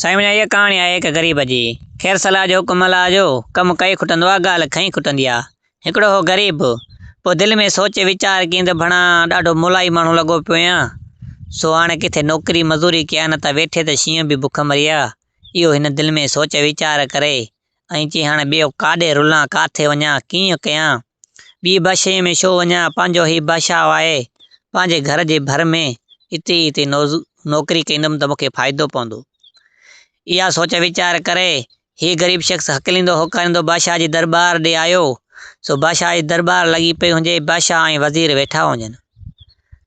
سائين منهنجا اها ڪهاڻي آهي هڪ غريب جي. خير صلاح جو حڪم الله جو. ڪم ڪئي کٽندو آ ڳالهه کئي کٽندي آ. هڪڙو هو غريب. پوء دل ۾ سوچ ويچار ڪيئن ته ڀڻا ڏاڍو مولائي ماڻهو لڳو پيو هيان. سو هاڻي ڪٿي نوڪري مزوري ڪيان نه ته ويٺي ته شينهن به بک مري ها. اهو هن دل ۾ سوچ ويچار ڪري ائين چئي هاڻي ٻيو ڪاڏي رلان، ڪاٿي وڃان، ڪيئن ڪيان، ٻيء بادشاهيء ۾ ڇو وڃان، پنهنجو هي بادشاهه آهي، پنهنجي گهر جي ڀر ۾، اتي ئي اتي نوڪري ڪندم ته مون کي فائدو پوندو. اها سوچ ويچار ڪري، هي غريب شخص هڪليندو هوڪاريندو بادشاهه جي درٻار ڏي آيو، سو بادشاهه جي درٻار لڳي پئي هجي، بادشاهه ۽ وزير ويٺا هجن.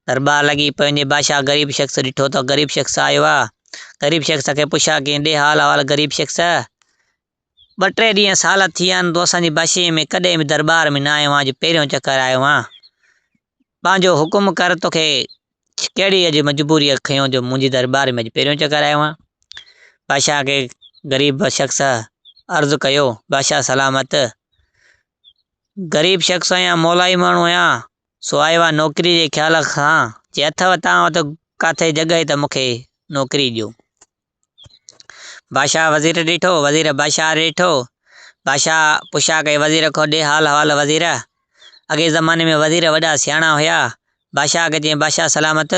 درٻار لڳي پئي هجي، بادشاهه غريب شخص ڏٺو ته غريب شخص آيو آهي، غريب شخص کي پڇيا ڪيئن ڏي حال احوال غريب شخص، ٻه ٽي ڏينهن سال ٿي ويا آهن تون اسان جي بشيء ۾ ڪڏهن به درٻار ۾ نه آيو آهين، اڄ پهريون چڪر آيو آهين. پنهنجو حڪم ڪر تو کي ڪهڙي اڄ مجبوريء کنيو جو منهنجي درٻار ۾ اڄ پهريون چڪر آيو آهين. بادشاهه کي غريب شخص عرض ڪيو، بادشاهه سلامت، غريب شخص آهيان، مولائي ماڻهو آهيان، سو آيو آهيان نوڪري جي خيال سان، جي اٿو توهان وٽ ڪاٿي جڳهه ته مون کي نوڪري ڏيو. بادشاهه وزير ڏٺو، وزير بادشاهه ڏٺو، بادشاهه پڇا ڪئي وزير کان ڏي حال احوال وزير! اڳئين زماني ۾ وزير وڏا سياڻا هيا. بادشاهه کي چيائين بادشاهه سلامت!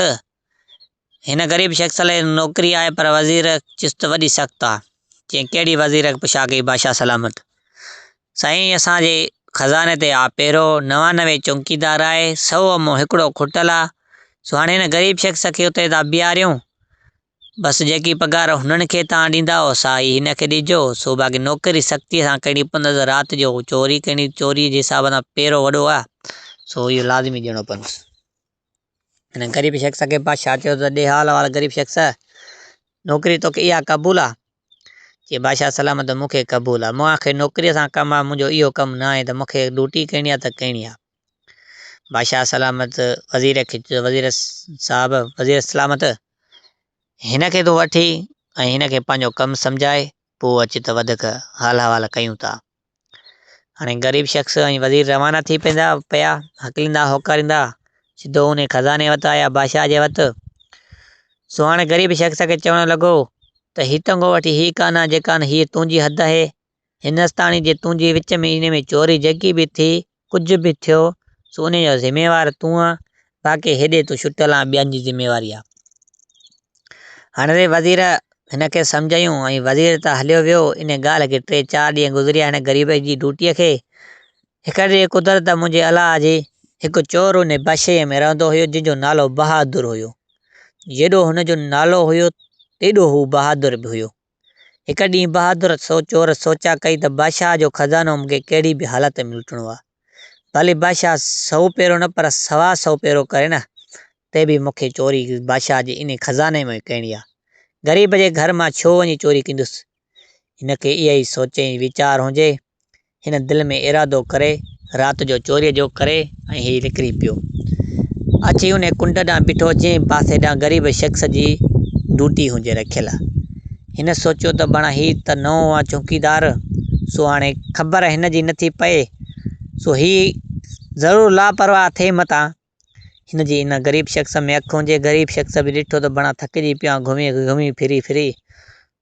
هن غريب شخص لاء نوڪري آهي پر وزير چست وڏي سخت آ. چيائين ڪهڙي وزير پڇا ڪئي بادشاهه سلامت! سائين اسان جي خزاني تي آپيرو، نوانوي چونڪيدار آهي، سؤ مان هڪڙو کٽل آ، سو هاڻي هن غريب شخص کي اتي ٿا بيهاريون، بس جيڪي پگهار هنن کي توهان ڏيندائو، سا ئي هن کي ڏجو. سو باقي نوڪري سختيء سان ڪرڻي پوندس. رات جو هو چوري ڪندي، چوريء جي حساب سان پيرو وڏو آهي، سو اهو لازمي ڏيڻو پوندس. هن غريب شخص کي بادشاهه چيو ته، ڏي حال احوال غريب شخص! نوڪري توکي اها قبول آهي؟ چي، بادشاهه سلامت ته مون کي قبول آهي. مون آخر نوڪريء سان ڪم آهي، منهنجو اهو ڪم نه آهي ته مون کي ڊوٽي ڪرڻي آهي ته ڪرڻي آهي. بادشاهه سلامت وزير کي چيو ته وزير صاحب، وزير سلامت، هن کي تون وٺي ۽ هن کي پنهنجو ڪم سمجهاء، پوء اچ ته وڌيڪ حال احوال ڪيون ٿا. هاڻي غريب شخص ۽ وزير روانا ٿي پيندا پيا، هڪليندا هوڪاريندا سڌو انهي خزاني وٽ آيا، بادشاهه جي وٽ. سو هاڻي غريب شخص کي چوڻ لڳو ته هي تنگو وٺي هي ڪانه جيڪان هيء تنهنجي حد آهي، هندستاني جي تنهنجي وچ ۾ انهي ۾ چوري جيڪي به ٿي، ڪجهه به ٿيو، سو انهي جو ذميوار تون آن، باقي هيڏي تون شٽل آن ٻين جي ذميواري آ. هن ري وزير هن کي سمجهايون ۽ وزير ته هليو ويو، انهي ڳالهه کي ٽي چار ڏينهن گذريا هن غريب جي ڊوٽي کي. هڪڙي ڏينهن قدرت منهنجي الاهه جي، هڪ چور انهي بشيء ۾ رهندو هيو جنهن جو نالو بهادر هيو. جيڏو هن جو نالو هيو تيڏو هو بهادر به هيو. هڪ ڏينهن بهادر سو چور سوچيا ڪئي ته بادشاهه جو خزانو مون کي ڪهڙي به حالت ۾ لٽڻو آهي. ڀلي بادشاهه سئو پيرو نه پر سوا سئو پيرو ڪري نه تي به مون کي چوري بادشاهه جي انهي خزاني مان ئي ڪرڻي آهي. غريب جي گهر مان ڇو وڃي چوري ڪندس. هن کي اهي ئي سوچ ۽ ويچار هجي هن دل ۾ ارادو ڪري رات جو چوريء جو ڪري ۽ هي نڪري پيو. اچي انهي ڪنڊ ڏانهن بيٺو جنهن پاسي ڏانهن غريب شخص جي ڊوٽي هجي رکيل. هن سوچيو ته بڻا هي ته نئون آ چونڪيدار سو هاڻي خبر هن جي نٿي پئي سو هي ضرور لاپرواهه ٿئي متان هن جي ان غريب شخص ۾ اک هوندي غريب شخص به ڏٺو ته بڻا ٿڪجي پيو آهيان گهمي گهمي ڦري ڦري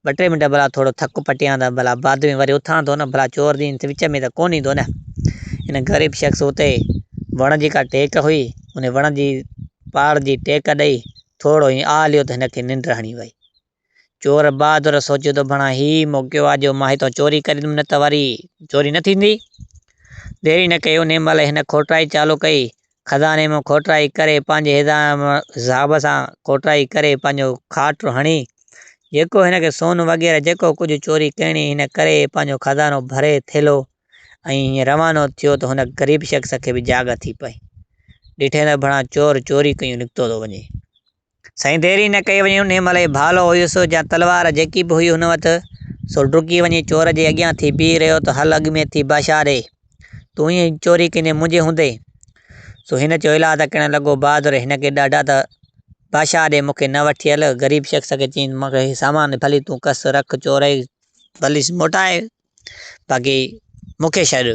ٻه ٽي منٽ ڀلا ٿورو ٿڪ پٽيان ته ڀلا بعد ۾ وري اٿان ٿو نه ڀلا چور دين ته وچ ۾ ته ڪونه ايندو نه ان غريب شخص اتي وڻ جي ڪا ٽيڪ هئي ان وڻ جي پاڙ جي ٽيڪ ڏئي ٿورو هين آهه ليو ته هن کي ننڊ هڻي وئي چور بهادر سوچيو ته بڻا هي ئي موقعو آ جو مان هتان چوري ڪريندم نه ته وري چوري نه ٿيندي. ديري نه ڪئي انهي مهل هن کوٽرائي چالو ڪئي. خزاني مان کوٽرائي ڪري پنهنجي حساب سان کوٽرائي ڪري پنهنجو کاٽ هڻي جيڪو هن کي سون وغيره جيڪو ڪجهه چوري ڪرڻي هن ڪري پنهنجو خزانو ڀري ٿيلهو ۽ هيئن روانو ٿيو ته هن غريب شخص کي به جاڳ ٿي پئي. ڏٺئين ته بڻا چور چوري ڪيون نڪتو ٿو وڃي. سائين دير ئي نه ڪئي وڃي انهي مهل ئي ڀالو هيس يا تلوار جيڪي به هئي هن وٽ سو ڊڪي وڃي چور جي اڳيان ٿي بيهي رهيو ته هل اڳ ۾ ٿي باشا ڏي تون ائين چوري ڪندين منهنجي هوندي سو هن چيو الاء ته ڪهڙن لڳو بهادر هن کي ڏاڍا ته باشا ڏي مون کي نه وٺي هل غريب شخص کي چيائين مون کي هي سامان ڀلي تون ڪس رک چورئي ڀلي موٽاء باقي مون کي شايد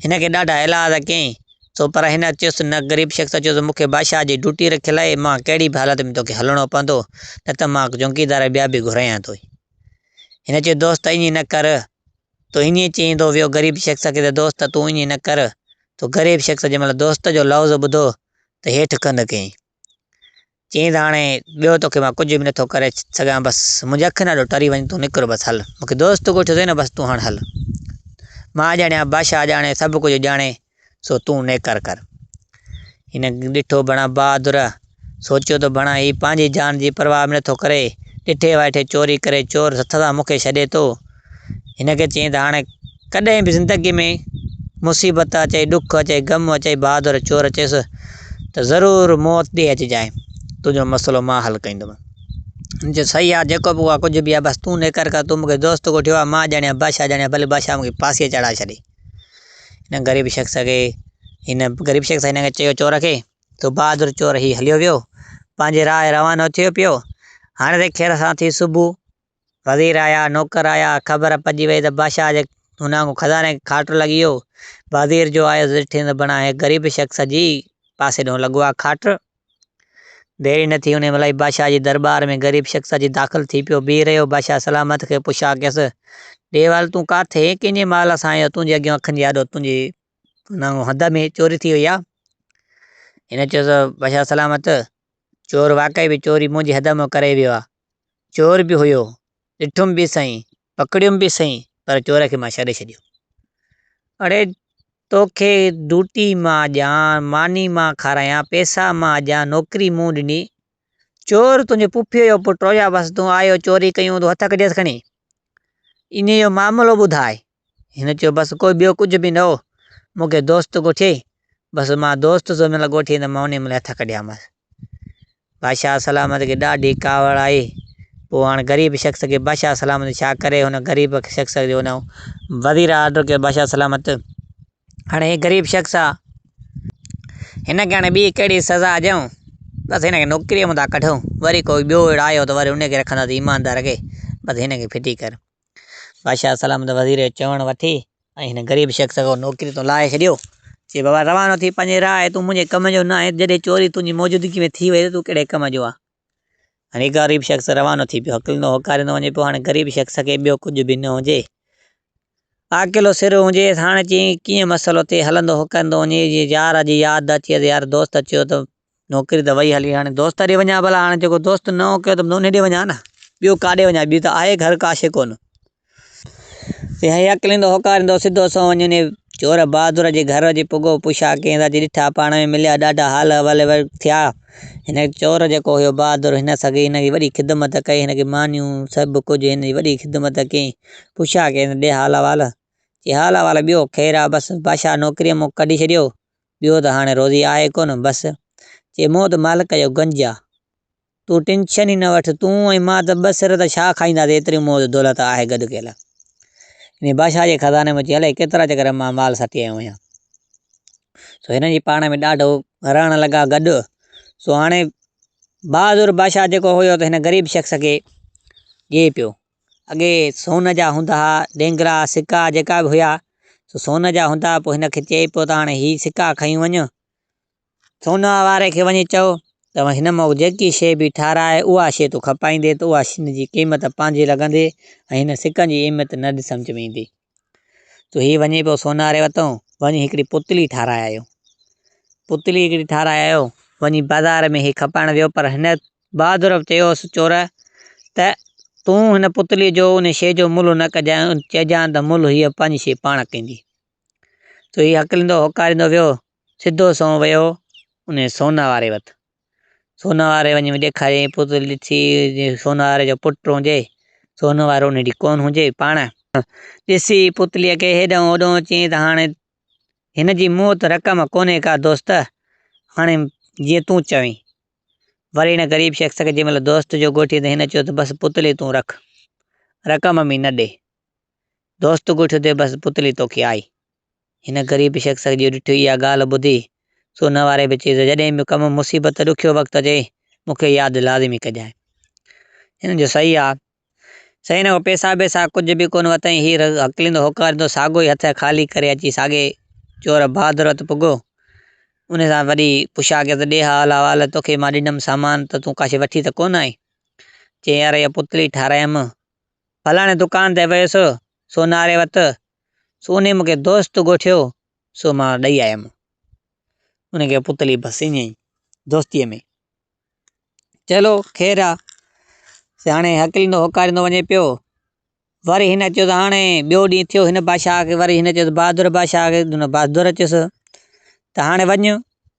هن کي ڏاڍا هيلا ته ڪيئي سو پر هن چيس نه غريب شخص چيس مون کي بادشاهه جي ڊيوٽي رکيل آهي مان ڪهڙي به حالت ۾ توکي هلڻو پوندو نه ته مان چونڪيدار ٻيا به گهرايان ٿو هن چيو دوست ائين نه ڪر تو ائين چئيندو ويو غريب شخص کي ته دوست تون ائين نه ڪر تو غريب شخص جنهن مهل دوست جو لفظ ٻڌو ته هيٺ ڪنڌ ڪيائين چيائين ته هاڻي ٻيو توکي مان ڪجهه به نٿو ڪري سگهان بس منهنجي اکين آڏو ٽري وڃ تون نڪر بس هل مونکي دوست ڳوٺيو اٿئي نه بس تون هاڻ هل مان ڄاڻيان بادشاهه ڄاڻي سڀ ڪجهه ڄاڻي سو تون نيڪر ڪر هن ڏٺو بڻا بهادر سوچيو ته بڻا هي پنهنجي جان جي پرواهه به نٿو ڪري ڏٺي وائٺي چوري ڪري چور هٿ سان مونکي ڇڏي ٿو هن کي چيائين ته هاڻي ڪڏهن به زندگيء ۾ مصيبت اچي، ڏک اچي، غم اچي، بهادر چور اچيس ته ضرور موت ڏي اچجانء، تنهنجو مسئلو مان حل ڪندومئن. هن چيو، صحيح آ، جيڪو به آ، ڪجهه به آ، بس تون نيڪر ڪر، تون مون کي دوست ڳوٺيو آ، مان ڄاڻي يا بادشاهه ڄاڻي يا ڀلي بادشاهه مون کي ڦاسيء تي چڙهائي ڇڏي. هن غريب شخص کي هن غريب شخص هن کي چيو چور کي، تو بهادر چور هي هليو ويو، پنهنجي راهه روانو ٿيو پيو، هاڻي تي خير سان ٿي صبح وزير آيا، نوڪر آيا، خبر پڄي ويئي ته بادشاهه جي هن آڱو خزاني کي کاٽ لڳي ويو. وزير جو آيو ڏٺين ته بڻا هيء غريب شخص جي پاسي ڏانهن لڳو آ کاٽ. دير ئي نه ٿي، انهيء مهل ئي بادشاهه جي درٻار ۾ غريب شخص اچي داخل ٿي پيو. بيهي رهيو، بادشاهه سلامت کي پڇا ڪيس، ڏيوال تون ڪاٿي ۽ ڪنهن جي مال سان آيو، تنهنجي اڳيان اکن جي آڏو تنهنجي هن آڱو هنڌ ۾ چوري ٿي وئي آ؟ هن چيو ته بادشاهه سلامت، چور واقعي به چوري منهنجي هنڌ مان ڪري ويو آ. چور به هيو، ڏٺم به سائين، پڪڙيم به سائين پر چور کي مان ڇڏي ڇڏيو. اڙي توکي ڊوٽي مان اڄان، ماني مان کارايان، پئسا مان اڄان، نوڪري مون ڏني، چور تنهنجي پڦيء جو پٽ رويا بس تون آيو چوري ڪيون تون هٿ ڪڍيس کڻي. انهيء جو معاملو ٻڌاء. هن چيو، بس ڪو ٻيو ڪجهه به نه هو، مون کي دوست ڳوٺيئي، بس مان دوست جنهن مهل ڳوٺيئي ته مان انهيء مهل هٿ ڪڍيامانس. بادشاهه سلامت کي ڏاڍي ڪاوڙ آئي، پوء هاڻ غريب شخص کي بادشاهه سلامت ڇا ڪري؟ هن غريب شخص جو هن وزير آرڊر ڪيو، بادشاهه سلامت هاڻ هي غريب شخص آ، هن کي هاڻ ٻي ڪهڙي سزا ڏيئون؟ بس هن کي نوڪريء مئن ٿا ڪڍون، وري ڪو ٻيو آيو ته وري انهيء کي رکنداسين ايماندار کي، بس هن کي ڦٽي ڪر. بادشاهه سلامت وزير جو چوڻ وٺي ۽ هن غريب شخص کي نوڪري تان لاهي ڇڏيو. چي بابا روانو ٿي پنهنجي راء تون منهنجي ڪم جو نه آهين جڏهن چوري تنهنجي موجودگي ۾ ٿي وئي ته تون ڪهڙي ڪم جو آهين. هاڻي غريب شخص روانو ٿي پيو. هڪلندو هوڪاريندو وڃي پيو هاڻي غريب شخص کي ٻيو ڪجهه به نه هجي. عاقلو سر هجيس هاڻي چي ڪيئن مسئلو ٿئي هلندو هوڪاريندو وڃي جي يار جي ياد اچي يار دوست چيو ته نوڪري ته وئي هلي هاڻي دوست ڏي وڃان ڀلا هاڻي جيڪو دوست نه هو ڪيو ته نونهين ڏي وڃان نه ٻيو ڪاڏي وڃان ٻيو ته آهي گهر ڪا شيء ڪونه تنهنجي عقل ايندو هوڪاريندو سڌو سنئون وڃي انهيء چور بهادر جي گهر جي پڳو پوشا ڪيئن ٿا جي ڏٺا پاڻ ۾ مليا ڏاڍا حال احوال ٿيا هن چور جيڪو هيو بهادر هن سگي هن جي وڏي خدمت ڪئي هن کي مانيون سڀ ڪجهه هن جي وڏي خدمت ڪيئي پوشا ڪيئن ڏي حال احوال چي حال احوال ٻيو خير آ بس بادشاهه نوڪريء مون کي ڪڍي ڇڏيو ٻيو ته هاڻي روزي آهي ڪونه بس. چي مون ته مالڪ جو گنج آ. تون ٽينشن ئي نه وٺ. تون ۽ مان ته ٻه سر ته ڇا کائينداسين ايتري موز دولت آهي گڏ ڪيل. انهيء بادشاهه جي خزاني مان چي الائي ڪيترا چڪر مان مال سٽي آيو آهيان. سو هنن جي پاڻ ۾ ڏاڍو رهڻ لڳا گڏ. سو هاڻي بهادر بادشاهه جيڪو هيو ته هن غريب شخص کي ڏئي پيو. اڳي سون جا هوندا ها ڏينگرا سڪا جيڪا به هيا سو سون جا هوندا ها پوء هن کي چئي پيو ته هاڻي هي سڪا کڻي وڃ سون واري کي وڃي چئو ته هن مون جيڪي شي به ٺاراهي اها شي تون کپائيندي ته اها شين جي قيمت پنهنجي لڳندي ۽ هن سڪن جي اهميت نه سمجهه ۾ ايندي جو هي وڃي پيو سوناري وتو وڃي هڪڙي پتلي ٺاهرائي آيو. پتلي هڪڙي ٺاهرائي آيو، وڃي بازار ۾ هي کپائڻ ويو پر هن بهادر چيوس چور ته تون هن پتلي جو ان شيء جو ملهه نه ڪجانء، چئجانء ته ملهه هيء پنهنجي شيء پاڻ ڪندي. سو هي هڪلندو هوڪاريندو ويو سڌو سنئون ويو انهيء سونا واري وٽ. سونا واري وڃي ڏيکاريائين پوتلي ڏٺي جي سونا واري جو پٽ هجي، سونا وارو انهي ڏي ڪونه هجي پاڻ. ڏسي پوتليء کي هيڏانهن هوڏانهن چيائين ته هاڻي هن جي مون وٽ رقم ڪونهي ڪا دوست، هاڻي جيئن تون چوين. وري هن غريب شخص کي جنهن مهل دوست جو ڳوٺيو ته هن چيو ته بس پوتلي تون رک، رقم به نه ڏي. دوست ڳوٺيو ته بس پوتلي توکي آئي. هن غريب شخص کي جو ڏٺو اها ڳالهه ٻڌي، سو ان واري به چيس ته جڏهن به ڪم مصيبت ڏکيو وقت اچي، مون کي ياد لازمي ڪجانء. هن جو سئي آ. سئي نه هو پيسا بيسا ڪجهه به ڪونه وتائين، هي رڳ هڪليندو هوڪاريندو ساڳو ئي هٿ خالي ڪري اچي ساڳي چور بهادر وٽ پڳو. ان سان وڏي پڇا ڪيس ته ڏي ها الا والا توکي مان ڏنم سامان ته تون ڪاشي وٺي ته ڪونه آئين؟ چيائين يار اها پتلي ٺارايم، فلاڻي دڪان تي ويس سوناري وٽ، سو انهيء مونکي دوست ڳوٺيو، سو مان ڏئي آيم. ان کي پتلي بس ائين ئي دوستيء ۾. چلو خير آ، سي هاڻي هڪليندو هوڪاريندو وڃي پيو. وري هن چيو ته هاڻي ٻيو ڏينهن ٿيو هن بادشاهه کي وري هن چيو ته بهادر بادشاهه کي، بهادر چيس ته هاڻي وڃ.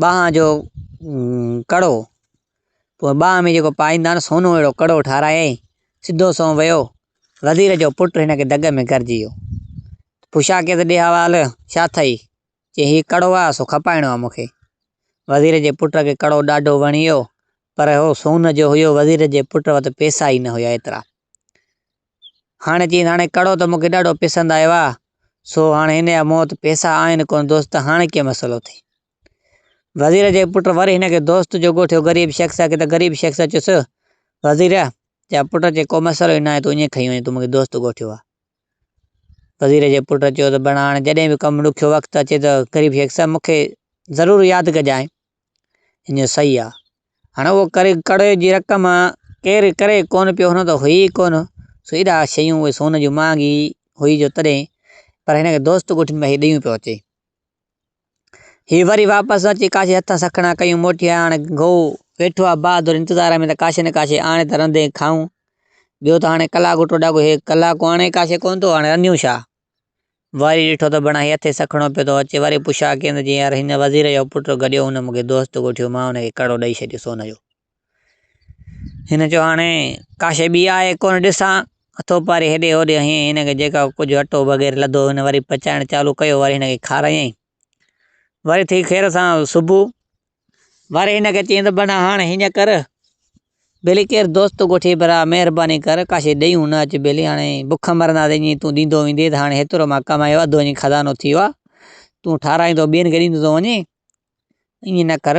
ٻانهن جو ڪڙو، پوء ٻانهن ۾ جيڪو پائيندا آهن، سونو اهڙو ڪڙو ٺارايائين، سڌو سنئون ويو، وزير جو پٽ هن کي دڳ ۾ گرجي ويو. پڇا ڪيس ڏي حوال، ڇا اٿئي؟ چي هي ڪڙو آهي، سو کپائڻو آهي مون کي. وزير جي پٽ کي ڪڙو ڏاڍو وڻي ويو، پر اهو سون جو هيو، وزير جي پٽ وٽ پئسا ئي نه هيا ايترا. هاڻي چيس هاڻي ڪڙو ته مون کي ڏاڍو پسند آيو آ سو هاڻي هن جا مون وٽ پئسا آهن ڪونه دوست هاڻي ڪيئن مسئلو ٿئي وزير جي پٽ وري هن کي دوست جو ڳوٺيو غريب شخص آ ڪٿي غريب شخص چيس وزير جا پٽ چي ڪو مسئلو ئي ناهي تون ائين کئي وڃ تون مون کي دوست ڳوٺيو آ وزير جي پٽ چيو ته بڻا هاڻي جڏهن به ڪم ڏکيو وقت اچي ته غريب شخص مون کي ضرور ياد ڪجانء ان جو صحيح آ. هاڻي اهو ڪري ڪڙي جي رقم ڪير ڪري ڪون پيو هن ته هئي ئي ڪون سو ايڏا شيون اهي سون جون مهانگي هئي جو تڏهن پر هن کي دوست ڳوٺ ۾ هي ڏيون پيو اچي. هي وري واپس اچي ڪاشي هٿ سکڻا ڪيون موٽي آيا هاڻي گئو ويٺو آ بهادر انتظار ۾ ته ڪاشي نه ڪاشي آڻي ته رنڌي کائون. ٻيو ته هاڻي ڪلاڪ ٽوڙاڪو هي ڪلاڪ آڻي ڪاشي ڪون ٿو هاڻي رنڌيون ڇا؟ وري ڏٺو ته بڻ هيء ٿي سکڻو پيو ٿو اچي، وري پڇا ڪيم ته جي يار هن وزير جو پٽ گڏيو هن مون کي دوست ڳوٺيو مان هن کي ڪڙو ڏئي ڇڏيو سون جو. هن چيو هاڻي ڪا شيء ٻي آهي ڪونه ڏسان ٿو پاري هيڏي هوڏي هنئين هن کي جيڪا ڪجهه اٽو وغيره لڌو هن وري پچائڻ چالو ڪيو وري هن کي کارايائين وري ٿي خير سان صبح. وري هن کي چيائين ته بنا هاڻ هيئن ڪر ڀيلي ڪير دوست ڳوٺي برا مهرباني ڪر ڪاشي ڏيئون نه اچ ڀيلي هاڻي بک مرنداسين جي تون ڏيندو ويندي ته هاڻي هيترو مان ڪمايو اڌ وڃي خزانو ٿي ويو آ تون ٺارايندو ٻين کي ڏيندو ٿو وڃي ائين نه ڪر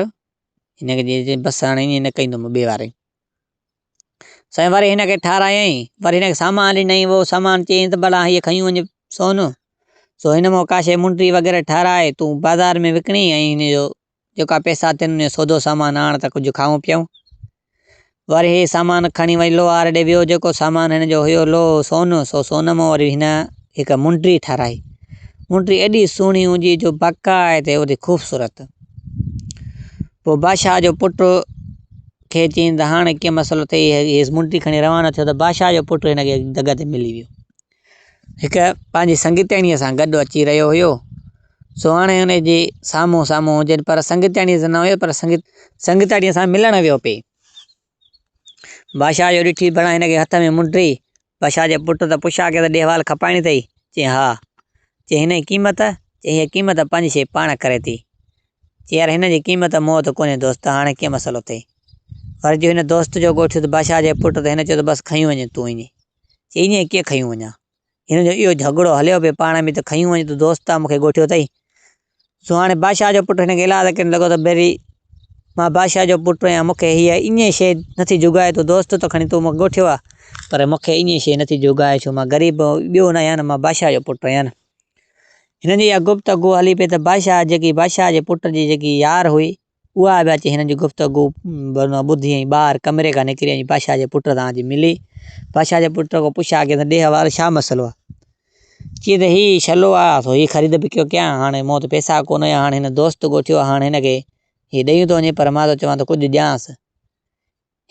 هن کي چيائين بس هاڻي ائين نه ڪندوم ٻي واري سائين وري ھن کي ٺارايائين، وري ھن کي سامان ڏنائين، اھو سامان چيائين تھ ڀلا ھيء کنيو وڃ سون، سو ھن مون ڪا شيء منڊري وغيره ٺاھرائي تون بازار ۾ وڪڻي ۽ ھن جو جيڪا پئسا ٿين ان جو سودو سامان آڻ تھ ڪجھھ کائون پيئون. وري ھيء سامان کڻي وڃي لوھار ڏي ويو، جيڪو سامان ھن جو ھيو لوھ سون، سو سون مون وري ھن ھڪ منڊري ٺاھرائي. منڊري ايڏي سھڻي ھوندي جو باقاعدي اھڙي خوبصورت، پوء بادشاھھ جو پٽ، کي چيائين ته هاڻ ڪنهن مسئلي تي هيس منڊي کڻي روانا ٿيو ته بادشاهه جو پٽ هن کي دڳ تي ملي ويو هڪ پنهنجي سنگتياڻيء سان گڏ اچي رهيو هيو سو هاڻي هن جي سامهون سامهون هجن پر سنگتياڻيء سان نه هيو پر سنگت سنگتياڻيء سان ملڻ ويو پئي بادشاهه جو ڏٺي بڻا هن کي هٿ ۾ منڊي بشا جي پٽ ته پڇا کي ته ڏيهوال کپائڻي اٿئي؟ چيائين ها. چيائين هن جي قيمت؟ چيائين هيء قيمت پنج شي پاڻ ڪري ٿي. چيائين يار هن جي قيمت مون وٽ ڪونهي دوست هاڻي ڪيئن مسئلو اٿئي؟ ورجو هن دوست جو ڳوٺيو ته بشا جي پٽ ته هن چيو ته بس کنيون وڃ تون ايئن. چيائين ايئن ڪيئن کنيون وڃان؟ هن جو اهو جهڳڙو هليو پئي پاڻ ۾ ته کنيون وڃ تون دوست آ مون کي ڳوٺيو اٿئي. سهاڻي بادشاهه جو پٽ هن کي الهه ڪرڻ لڳو ته بيري! مان بادشاهه جو پٽ آهيان، مون کي هيء ايئن شيء نٿي جوڳائي، تون دوست ته کڻي تون مون کي ڳوٺيو آهي، پر مون کي ايئن شيء نٿي جوڳائي، ڇو مان غريب ٻيو نه آهيان، مان بادشاهه جو پٽ آهيان. هنن جي اها گفتگو هلي پئي ته بادشاهه جيڪي بادشاهه جي پٽ جي جيڪي يار هئي، اها به اچي هنن جي گفتگو ٻڌي ۽ ٻاهر ڪمري کان نڪري ۽ پاشا جي پٽ سان اچي ملي. پاشا جي پٽ کان پڇيو آ ڪيس ڏيهه وارو ڇا مسئلو آ؟ چي ته هي شلو آ سو هي خريد وڪرو ڪيان هاڻي مون وٽ پئسا ڪونه هيا هاڻي هن دوست ڳوٺيو آ هاڻي هن کي هي ڏيون ٿو وڃي پر مان ٿو چوان ته ڪجهه ڏيانس.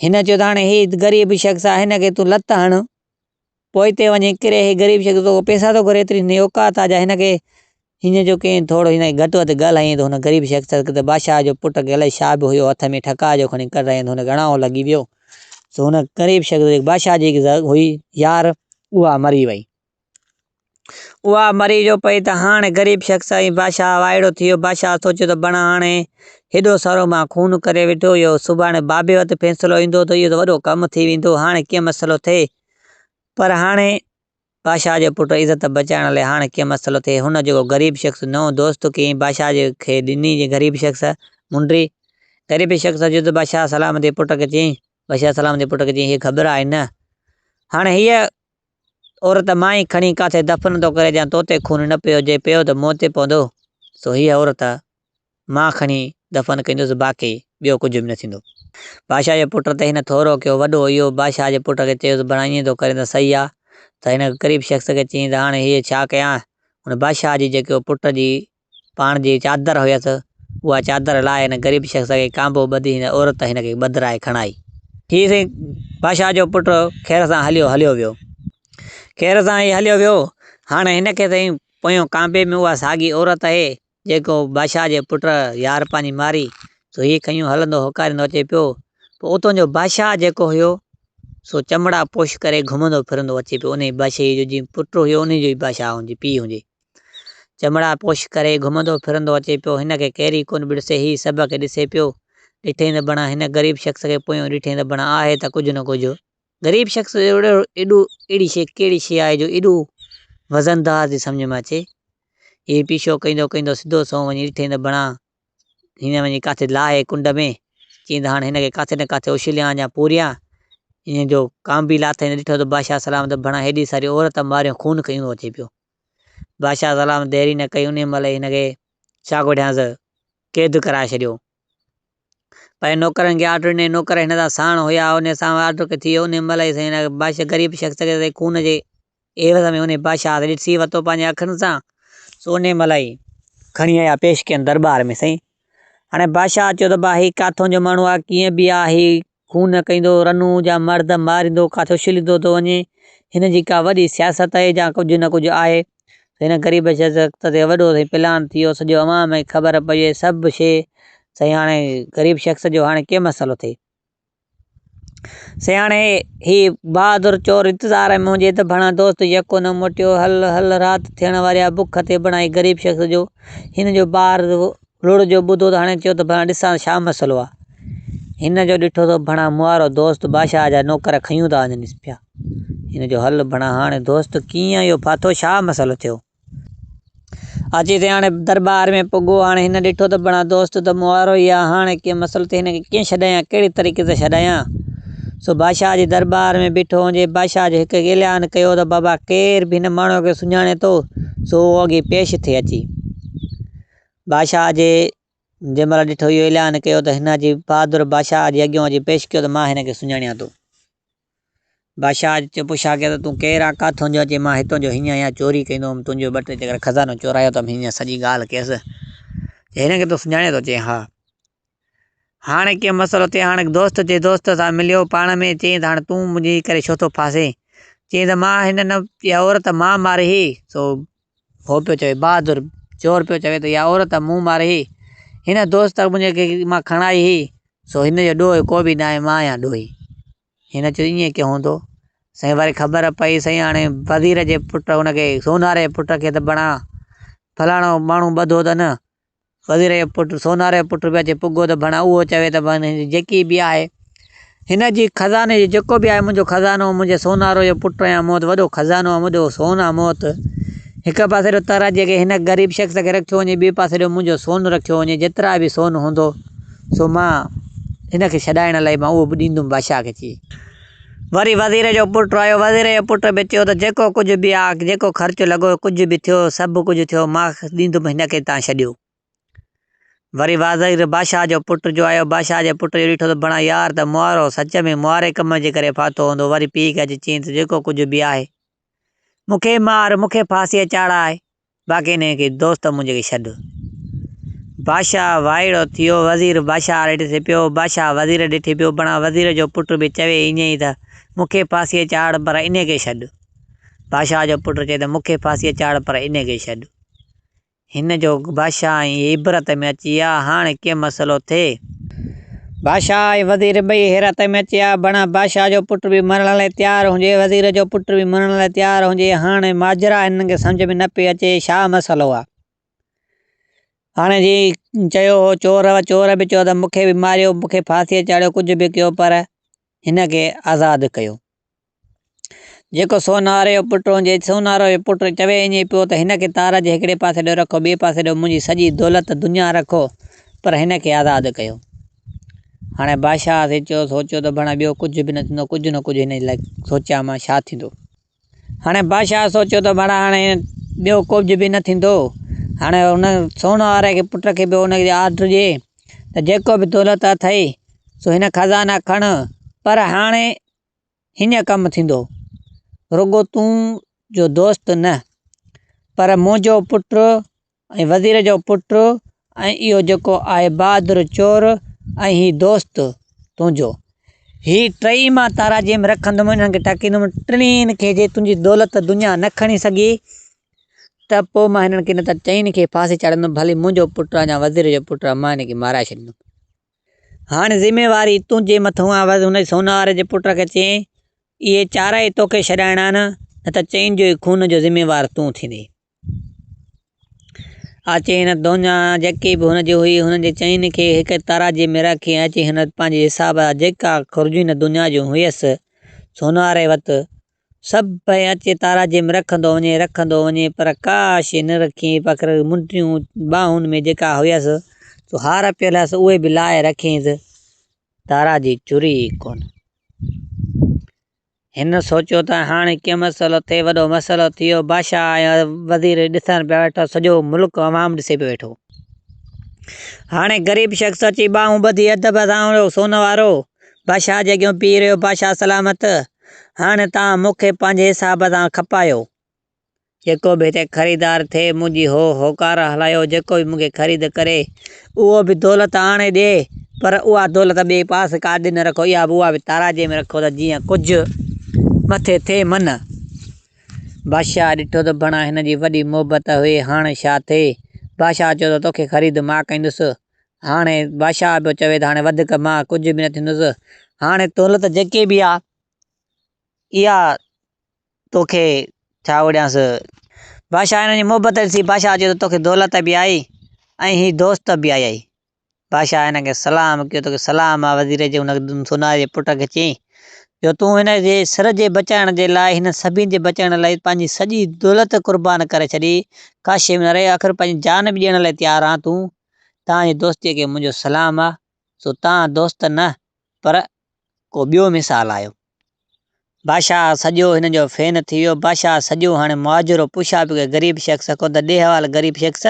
هن چيو ته هاڻي هي غريب شخص آ هن کي تون لت هڻ پوئتي وڃي ڪري هي غريب شخص توکان پئسا ٿو گهري ايتري هنجي اوقات آ جا هن کي هينئن جو ڪئين ٿورو هينئن گهٽ وڌ ڳالهائين ته هن غريب شخص کي ته بادشاهه جو پٽ کي الائي ڇا به هيو هٿ ۾ ٺڪاء جو کڻي ڪڍ رهين ته هن کي اڻائو لڳي ويو سو هن غريب شخص جي بادشاهه جي هئي يار اها مري وئي اها مري جو پئي ته هاڻ غريب شخص ۽ بادشاهه وائڙو ٿي ويو. بادشاهه سوچيو ته بڻ هاڻي هيڏو سارو مان خون ڪري ويٺو، اهو سڀاڻي بابي وٽ فيصلو ايندو ته اهو ته وڏو ڪم ٿي ويندو، هاڻي ڪيئن مسئلو ٿئي؟ پر هاڻي بادشاهه جو پٽ عزت بچائڻ لاء هاڻ ڪيئن مسئلو ٿئي؟ هن جيڪو غريب شخص نئون دوست ڪيئي بادشاهه کي ڏني جي غريب شخص منڊي. غريب شخص جو ته بادشاهه سلامتي پٽ کي چيائين، بادشاهه سلامتي پٽ کي چيائين، هيء خبر آهي نه هاڻي هيء عورت، مائي کڻي ڪاٿي دفن ٿو ڪري جيان توتي خون نه پيو جي پيو ته موت تي پوندو سو هيء عورت، مان کڻي دفن ڪنديس باقي ٻيو ڪجهه به نه ٿيندو. بادشاهه جي پٽ ته هن ٿورو ڪيو وڏو اهو بادشاهه جي پٽ کي چيو ته بڻا ائين ٿو ڪرين ته صحيح آ ته هن ڪريب شخص کي چئين ته هاڻي هيء ڇا ڪيان هن بادشاهه جي جيڪي پٽ جي پاڻ جي چادر هيس، اها چادر لاهي هن غريب شخص کي ڪانبو ٻڌي هن عورت هن کي ٻڌرائي کڻائي. هي سائين بادشاهه جو پٽ خير سان هليو هليو ويو. خير سان هي هليو ويو، هاڻ هن کي سائين پويان ڪانبي ۾ اها ساڳي عورت آهي، جيڪو بادشاهه جي پٽ يار پنهنجي ماري، سو هي کنيون هلندو هوڪاريندو اچي پيو، پوء اتان جو بادشاهه جيڪو هيو، سو چمڙا پوش ڪري گهمندو ڦرندو اچي پيو، انهيء بادشاهيء جو جيئن پٽ هيو، انهيء جو ئي بادشاهه هجي، پيء هجي. چمڙا پوش ڪري گهمندو ڦرندو اچي پيو. هن کي ڪيري ڪونه ڏسي. هي سڀ کي ڏسي پيو. ڏٺئي ته بڻا هن غريب شخص کي پويون ڏٺئي ته بڻا آهي ته ڪجهه نه ڪجهه. غريب شخص اهڙو اهڙي شيء ڪهڙي شيء آهي جو ايڏو وزندار ٿي سمجهه ۾ اچي. هي پيشو ڪيندو ڪيندو سڌو سنئون وڃي ڏٺئي ته بڻا هن وڃي ڪاٿي لاهي ڪنڊ ۾. چيائين ته هاڻ هن کي ڪاٿي نه ڪاٿي اڇليان يا پوريان. ايئن جو ڪانبي لاٿئي ته ڏٺو ته بادشاهه سلامت بڻا هيڏي ساري عورت ماريون خون کي ايندو اچي پيو. بادشاهه سلام ديري نه ڪئي انهيء مهل ئي هن کي ڇا ڳوٺيانس قيد ڪرائي ڇڏيو. پنهنجي نوڪرن کي آرڊر ڏنائين، نوڪر هن سان ساڻ هيا، انهيء سان به آرڊر ڪئي ٿي ويو، انهيء مهل ئي سائين هن بادشاهه غريب شخص کي سائين خون جي عيوض ۾ انهيء بادشاهه کي ڏسي ورتو پنهنجي اکين سان، سو انهيء مهل ئي کڻي آيا پيش ڪيائين درٻار ۾ سائين هاڻي بادشاهه چيو ته ڀاء هي ڪاٿون جو ماڻهو آ، ڪيئن به آ، هي خون ڪيندو رنو جا مرد ماريندو ڪاٿو شليندو ٿو وڃي هن جي ڪا وڏي سياست آهي جا ڪجهه نه ڪجهه آهي هن غريب شخص تي وڏو سائين پلان ٿيو سڄو عوام کي خبر پئجي سڀ شي سائين هاڻي غريب شخص جو هاڻي ڪي مسئلو ٿئي سائين هاڻي هي بهادر چور انتظار ۾ هجي ته ڀڻا دوست يڪو نه موٽيو هل هل رات ٿيڻ واري آهي بک تي بڻائي غريب شخص جو هن جو ٻار لوڙهه جو ٻڌو ته هڻي چيو ته ڀڻا ڏسان ته ڇا مسئلو آ؟ هن جو ڏٺو ته ڀڻا موارو دوست باشاهه جا نوڪر کنيون ٿا وڃنس پيا. هن جو حل ڀڻا هاڻي دوست ڪيئن اهو ڦاٿو ڇا مسئلو ٿيو؟ اچي ته هاڻي درٻار ۾ پڳو هاڻي هن ڏٺو ته ڀڻا دوست ته موارو ئي آ هاڻي ڪنهن مسئلي تي هن کي ڪيئن ڇڏايان ڪهڙي طريقي سان ڇڏايان؟ سو باشاهه جي درٻار ۾ بيٺو هنجي باشاهه جو هڪ اعلان ڪيو ته بابا ڪير به هن ماڻهوء کي سڃاڻي ٿو سو اهو اڳي پيش ٿئي اچي. بادشاهه جي جنهن مهل ڏٺو اهو اعلان ڪيو ته هن جي بهادر بادشاهه جي اڳيون اچي پيش ڪيو ته مان هن کي سڃاڻيان ٿو. بادشاهه چيو پڇا ڪيو ته تون ڪير آ ڪاٿون جو چي مان هتون جو هينئن اها چوري ڪندو هوم تنهنجو ٻه ٽي چڪر خزانو چورايو ته هينئن سڄي ڳالهه ڪيس چي هن کي تون سڃاڻين ٿو چي ها. هاڻ ڪنهن مسئلو تي هاڻ دوست جي دوست سان مليو، پاڻ ۾ چيائين ته هاڻ تون منهنجي ڪري ڇو ٿو ڦاسين؟ چيائين ته مان هن نه اها عورت مان ماري هي، سو هو پيو چوي بهادر چور پيو چوي ته اها عورت مون ماري هي، هن دوست منهنجي کي مان کڻائي هي، سو هن جو ڏوهه ڪو به ناهي مان آهيان ڏوهي. هن چيو ائين ڪيئن هوندو؟ سائين وري خبر پئي سائين هاڻي وزير جي پٽ هن کي سونهاري پٽ کي ته بڻا فلاڻو ماڻهو ٻڌو اٿن وزير جو پٽ سوناري جو پٽ به اچي پڳو ته بڻا اهو چوي ته بڻا هن جي جيڪي به آهي هن جي خزاني جي جيڪو به آهي منهنجو خزانو منهنجي سونارو جو پٽ آهيان مون وٽ وڏو خزانو آهي منهنجو سون آهي مون وٽ هڪ پاسي ڏيو تر جي ڪي هن غريب شخص کي رکيو وڃي ٻي پاسي ڏيو منهنجو سون رکيو وڃي جيترا به سون هوندو سو مان هن کي ڇڏائڻ لاء مان اهو به ڏيندم بادشاهه کي چي وري وزير جو پٽ آيو، وزير جي پٽ به چيو ته جيڪو ڪجهه به آ، جيڪو خرچ لڳو، ڪجهه به ٿيو، سڀ ڪجهه ٿيو، مان ڏيندم هن کي تان ڇڏيو. وري وزير بادشاهه جو پٽ جو آيو، بادشاهه جي پٽ جو ڏٺو ته بڻا يار ته مئارو، سچ ۾ مئاري ڪم جي ڪري ڦاٿو هوندو، وري پيء کي اچي چيائين ته جيڪو ڪجهه به آهي، مون کي مار، مون کي ڦاسيء چاڙهاء. باقي نه ڪي دوست منهنجي کي ڇڏ. بادشاهه وائڙو ٿيو، وزير بادشاهه آڏي ڏٺي پيو، بادشاهه وزير ڏٺي پيو، بڻان وزير جو پٽ به چوي ائين ئي ته مون کي ڦاسيء چاڙهه پر انهي کي ڇڏ. بادشاهه جو پٽ چوي ته مون کي ڦاسيء چاڙهه پر انهي کي ڇڏ. هن جو بادشاهه ۽ عبرت ۾ اچي آ، هاڻ ڪي مسئلو ٿئي. بادشاهه ۽ وزير ٻئي حيرت ۾ اچي آيا. بڻ بادشاهه جو پٽ به مرڻ لاء تيار هجي، وزير جو پٽ به مرڻ لاء تيار هجي. هاڻ ماجرا هنن کي سمجهه ۾ نه پئي اچي ڇا مسئلو آ. هاڻ جي چيو هو چور و چور به چيو ته مون کي به ماريو، مون کي ڦاسيء چاڙهيو، ڪجهه به ڪيو پر هن کي آزاد ڪيو. جيڪو سوناري جو پٽ هجي، سوناري جو پٽ چوي اڃي پيو ته هن کي تار جي هڪڙي پاسي ڏيو رکو، ٻئي پاسي ڏيو منهنجي سڄي دولت دنيا رکو پر هن کي آزاد ڪيو. هاڻي بادشاهه سوچيو سوچيو ته ڀڻ ٻيو ڪجهه به نه ٿيندو، ڪجهه نه ڪجهه هن جي لاء سوچيان مان ڇا ٿيندو. هاڻي بادشاهه سوچيو ته ڀڻ هاڻي ٻيو ڪجهه به نه ٿيندو، هاڻي هن سوناري جي پٽ کي به هن کي آرڊر ڏي ته جيڪو به دولت اٿئي سو هن خزانا کڻ پر هاڻي هينئن ڪم ٿيندو. رڳو تون جو دوست نه، پر منهنجو پٽ ۽ وزير جو پٽ ۽ اهو جيڪو آهي بهادر چور ۽ هي دوست تنهنجو. هي ٽئي مان تاراجيم رکندم، انهن کي ٽاڪيندم، ٽنهين کي جي تنهنجي دولت دنيا نه کڻي سگهي، ته پوء مان هنن کي نه ته ٽئين کي ڦاسي چاڙهيندم، ڀلي منهنجو پٽ آ يا وزير جو پٽ آ، مان هن کي مارائي ڇڏيندم. هاڻ ذميواري تنهنجي مٿئون آ. وس هن سونهوار جي پٽ کي چيائين، اهي چارئي توکي ڇڏائڻا آهن، نه ته چئن جو ئي خون جو ذميوار تون ٿيندين. آ چئن دونهان جيڪي به هن جي هئي، هنن جي چئن کي هڪ ترازي ۾ رکي ۽ چيائين، هن پنهنجي حساب جا جيڪا خرجون هن دونهان جون هيس، سونهواري وت سڀ پئي اچي تاراجم رکندو وڃي رکندو وڃي پر ڪا شيء نه رکي پڪر منڊيون ٻانهن ۾ جيڪا هيس سو هار پيل هيس اهي به لاء رکيس تارا جي چري ئي ڪونه هن سوچيو ته هاڻي ڪيئن مسئلو ٿئي وڏو مسئلو ٿي ويو بادشاهه ۽ وزير ڏسڻ پيا ويٺا سڄو ملڪ عوام ڏسي پيو ويٺو هاڻي غريب شخص اچي ٻانهون ٻڌي ادب سان سون وارو بادشاهه جي اڳيون پيهي رهيو، بادشاهه سلامت! هاڻي توهان مون کي پنهنجي حساب سان کپايو. جيڪو به هتي خريدار ٿئي، منهنجي هو هوڪار هلايو، جيڪو به مون کي خريد ڪري، اهو به دولت آڻي ڏئي، پر اها دولت ٻئي پاسي ڪاڏي نه رکو، اها به اها به تارازي ۾ رکو ته جيئن ڪجهه مٿي ٿئي من. بادشاهه ڏٺو ته بڻا هن جي وڏي محبت هئي، هاڻ ڇا ٿئي؟ بادشاهه چيو ته توکي خريد مان ڪندس. هاڻي بادشاهه پيو چوي ته هاڻي وڌيڪ مان ڪجهه به نه ٿيندس. هاڻي دولت جيڪي به آ اها توکي ڇا وڙيانس. بادشاهه هنن جي محبت ڏسي بادشاهه چيو ته توکي دولت به آئي ۽ هي دوست به آيائي. بادشاهه هنن کي سلام ڪيو ته سلام آ وزير جي هن سوناري جي پٽ کي چين جو تون هن جي سر جي بچائڻ جي لاء هنن سڀني جي بچائڻ لاء پنهنجي سڄي دولت قربان ڪري ڇڏي، ڪاشي ۾ نه رهي، آخر پنهنجي جان به ڏيڻ لاء تيار آهان تون، تان جي دوستيء کي منهنجو سلام آ، سو تان دوست نه پر ڪو ٻيو مثال آهيو. بادشاهه سڄو هنن جو فين ٿي ويو، بادشاهه سڄو هاڻي مهاجرو پڇا پيو ڪري غريب شخص کان ته ڏي حوال غريب شخص!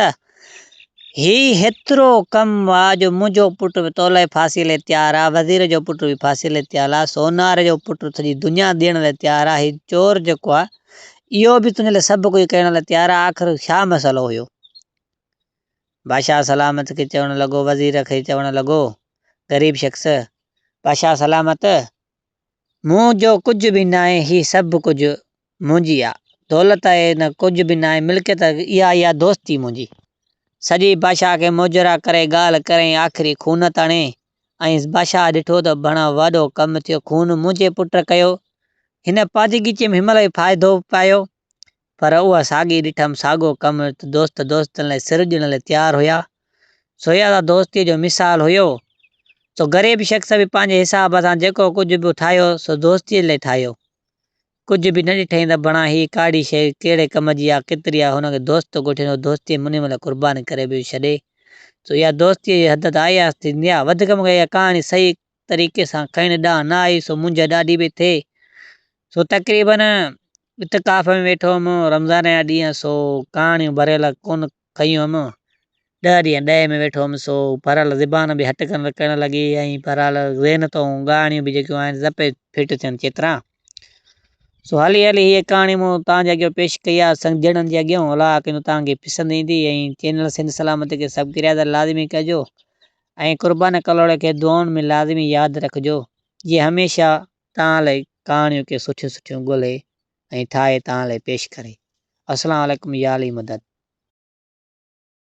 هي هيترو ڪم آ جو منهنجو پٽ به تولئي ڦاسي لئي تيار آ، وزير جو پٽ به ڦاسي لئي تيال آ، سونار جو پٽ سڄي دنيا ڏيڻ لئي تيار آ، هي چور جيڪو آ، اهو به تنهنجي لئي سڀ ڪجهه ڪرڻ لئي تيار آ، آخر ڇا مسئلو هيو؟ بادشاهه سلامت کي چوڻ لڳو، وزير کي چوڻ لڳو، غريب شخص! بادشاهه سلامت! مون جو ڪجهه به ناهي هي سڀ ڪجهه منهنجي آ دولت اهي نه ڪجهه به ناهي ملڪيت اها اي آ دوستي منهنجي سڄي بادشاهه کي موجرا ڪري ڳالهه ڪريائين آخري خون تڻي ۽ بادشاهه ڏٺو ته بڻ وڏو ڪم ٿيو خون منهنجي پٽ ڪيو هن پاجيگيچي ۾ همل اي فائدو پايو پر اها ساڳي ڏٺم ساڳو ڪم ته دوست دوستن لاء سر ڏيڻ لاء تيار هيا سو اها ته دوستيء جو مثال هيو سو غريب شخص به پنهنجي حساب سان جيڪو ڪجهه به ٺاهيو سو دوستيء لاء ٺاهيو ڪجهه به نه ڏٺئين ته بڻا هي ڪاڙي شيء ڪهڙي ڪم جي آ ڪيتري آ هن کي دوست ڳوٺين هو دوستيء منهن لاء قرباني ڪري به ڇڏي سو اها دوستيء جي حد ته آهي آستي نيا وڌيڪ مون کي اها ڪهاڻي صحيح طريقي سان کڻي ڏانهن نه آئي سو منهنجي ڏاڍي پئي ٿئي سو تقريبن اتڪاف ۾ ويٺو هئم رمضان جا ڏينهن سو ڪهاڻيون ڀريل ڪونه کيون هئم ڏهه ڏينهن ڏهي ۾ ويٺو هئم سو ڀريل زبان به هٽ ڪن ڪرڻ لڳي ۽ ڀريل ذهن تون ڳاهڻيون به جيڪيون آهن سڀ پئي فٽ ٿين چيترا سو هلي هلي هيء ڪهاڻي مون توهان جي اڳيان پيش ڪئي آهي سنگجڻن جي اڳيان الاء ڪنو توهان کي پسند ايندي ۽ چينل سنڌ سلامت کي سبڪريادر لازمي ڪجو ۽ قربان ڪلهوڙي کي دعائن ۾ لازمي ياد رکجو جي هميشه توهان لاء ڪهاڻيون ڪي سٺيون سٺيون ڳولهي ۽ ٺاهي توهان لاء پيش ڪري. السلام عليڪم يا علي مدد.